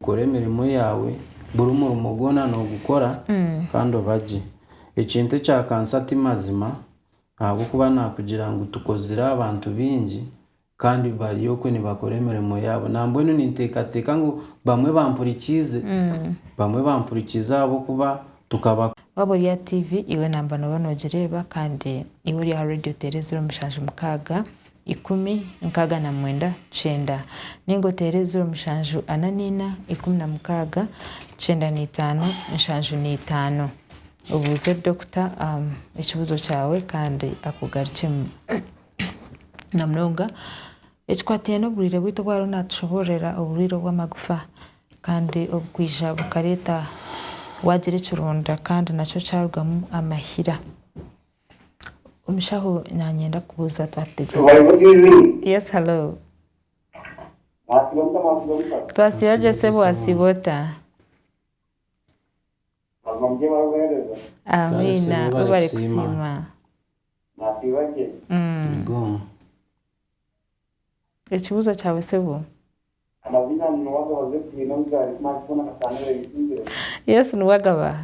Kora emirimo yaawe, buri murimo gwona noogukora kandi obagye. Ekintu ekyakansa ti mazima, ahabw'okuba naakugira ngu tukozire abantu baingi kandi bari okwe nibakora emirimo yaabo. Nambwenu ninteekateeka ngu bamwe bampurikiize. Bamwe bampurikiize ahabw'okuba tukaba. Waaba ori aha TV, iwe namba nooba noogireeba kandi iwe ori aha Radio Tereeza ori omushanju mukaaga, ikumi, nkaaga na mwenda, kyenda. Ninga oteere eziro mushanju ana naina, ikumi na mukaaga, kyenda naitaano, nshanju naitaano. Obuuze dokita ekibuuzo kyawe kandi akugarukyemu. Na munonga ekikwataine n'oburwiire bwaitu obu ariho natushoboororera, oburwiire obw'amagufa kandi obukwija bukareeta waagira ekironda kandi nakyo kyarugamu amahira. Omushaho nanyenda kubuuza Yes hello Twasiba gye sebo wasiba ota Amiina webale kusiima Ekibuuzo kyawe sebo Yes niwe agabaha.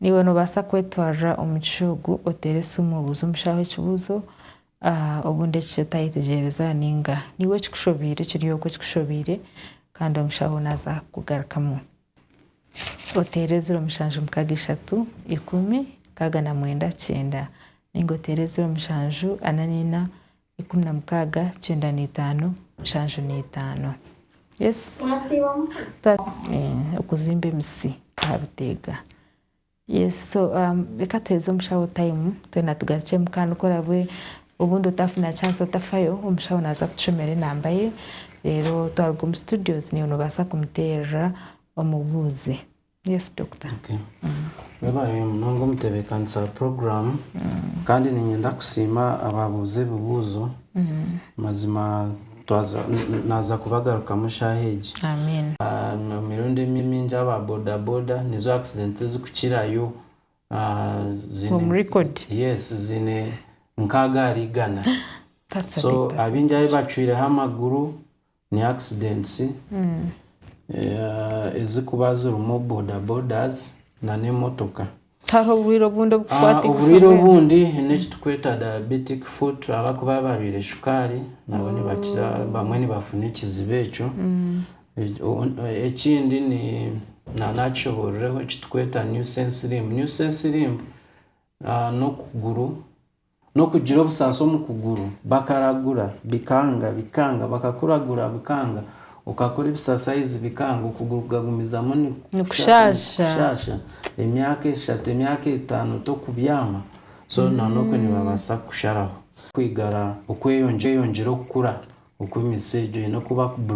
Naiwe noobaasa kwetwarira omu kishuugu oteere esimu obuuze omushaaho ekibuuzo obundi eki otayetegyereza nainga naiwe ekikushoboire kiri okwo ekikushoboire kandi omushaho naaza kukugarukamu. Oteere ziro mushanju mukaaga ishatu ikumi nkaaga na mwenda kyenda nainga oteere ziro mushanju ana naina ikumi na mukaaga kyenda na itaano nshanju na itaano. Okuzimba emitsi aha biteega. Reka tuheze omushaho tayimu twena tugarukyemu kandi ku orabwe obundi otafuna chansi otafayo omushaho naza kutushomera enamba ye reero twaruga omu situdiyo niiwe nobaasa kumuteerera omubuuze. Yes doctor. Okay. Webale munonga omutebekanisa wa program kandi ninyenda kusiima abaabuuza ebibuuzo. Mazima twaza naaza kubagarukamu eshaaha egi. Amen. Emirundi emi mingi aba boda boda nizo accident ezikukirayo. Ziine Omu record. Yes, ziine nkaaga ahari igana. That's a so big percentage. abaingi ahi bacwireho amaguru Ni accidents ezikuba zirimu boda bodas na n'emotoka. Tihariho oburwaire obundi obukukwata eigufa Oburwaire mbwenu? obundi ni eki tukweta diabetic foot abakuba barwaire shukaari nabo nibakira bamwe nibafuna ekizibu ekyo. Ekindi ni na nakishoboororeho eki tukweta nuisance limb. Nuisance limb n'okuguru N'okugira obusaasi omu kuguru, bakaragura, bikanga, bikanga, bakakuragura, bikanga, okakora ebisasayizi, bikanga, okuguru kukagumizamu nikushaasha, emyaka eshatu, emyaka etaano tokubyama, so na n'okwe nibabaasa kukusharaho. Kwigara okweyongyera okukura okw'emitsi egyo eine kuba.